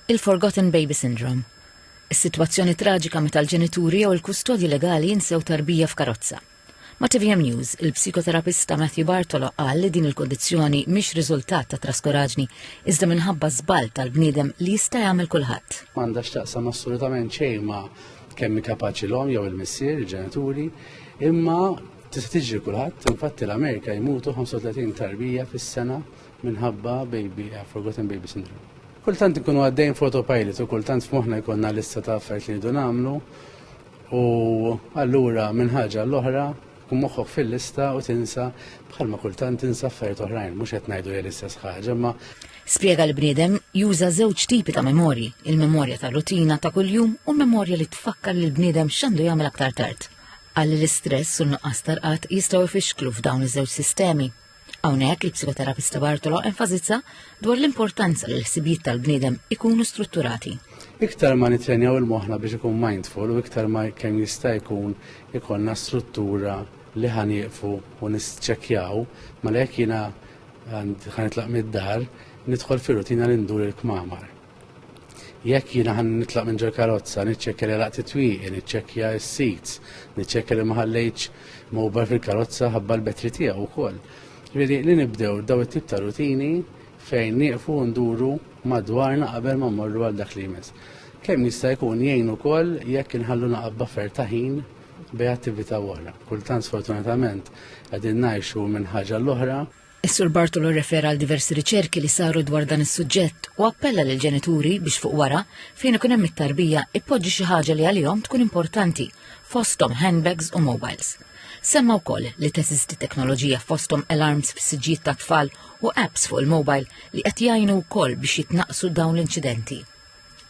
Il-forgotten baby syndrome. Is-sitwazzjoni traġika meta l-ġenituri jew il-kustodji legali jinsew tarbija f'karozza. Ma' tvm News, il-psikoterapista Matthew Bartolo qal li din il-kundizzjoni mhix riżultat ta' traskuraġni iżda minħabba żball tal-bniedem li jista' jagħmel kulħadd. Ma għandha x'taqsam assolutament xejn ma' kemm kapaċi l-omm jew il-missier, il-ġenituri, imma tista' tiġri kulħadd, infatti l-Amerika jmutu 35 tarbija fis-sena minħabba baby, eh, forgotten baby syndrome. Kultant ikunu għaddejn fotopilot u kultant f'moħna jkollna lista ta' affarijiet li jridu nagħmlu u allura minn ħaġa l-oħra kun moħħok fil-lista u tinsa bħalma kultant tinsa affarijiet oħrajn, mhux qed ngħidu hija l-istess ħaġa, ma Spjega li bniedem juża żewġ tipi ta' memorji, il-memorja ta' rutina ta' kuljum u memorja li tfakkar li l-bniedem x'għandu jagħmel aktar tard. Għalli l-istress u n-nuqqas tarqat jistgħu jfixklu f'dawn iż-żewġ sistemi. Hawnhekk il-psikoterapista Bartolo enfasizza dwar l-importanza li l-ħsibijiet tal-bniedem ikunu strutturati. Iktar ma nitrenjaw il-moħna biex ikun mindful u iktar ma kemm jista' jkun ikonna struttura li ħanieqfu u nisċekjaw, ma lek jina ħanitlaq mid-dar, nidħol fil rutina li ndur il-kmamar. Jekk jiena ħan nitlaq minn ġol karozza, niċċekkja li laqt it-twieqi, niċċekkja s-seats, niċċekkja li ma ħallejtx mobile fil-karozza ħabba l-betri tiegħu wkoll. Ġifieri li nibdew daw it-tip ta' rutini fejn nieqfu nduru madwarna qabel ma mmorru għal dak li jmiss. Kemm jista' jkun jgħin ukoll jekk inħallu naqab buffer ta' ħin bej attività oħra. Kultant sfortunatament qegħdin ngħixu minn ħaġa l-oħra Is-Sur Bartolo rrefera għal diversi riċerki li saru dwar dan is-suġġett u appella lil ġenituri biex fuq wara, fejn ikun hemm it-tarbija, ippoġġi xi ħaġa li għalihom tkun importanti, fosthom handbags u mobiles. Semma wkoll li teżisti teknoloġija fosthom alarms fis-siġġijiet tat-tfal u apps fuq il-mobile li qed jgħinu wkoll biex jitnaqqsu dawn l-inċidenti.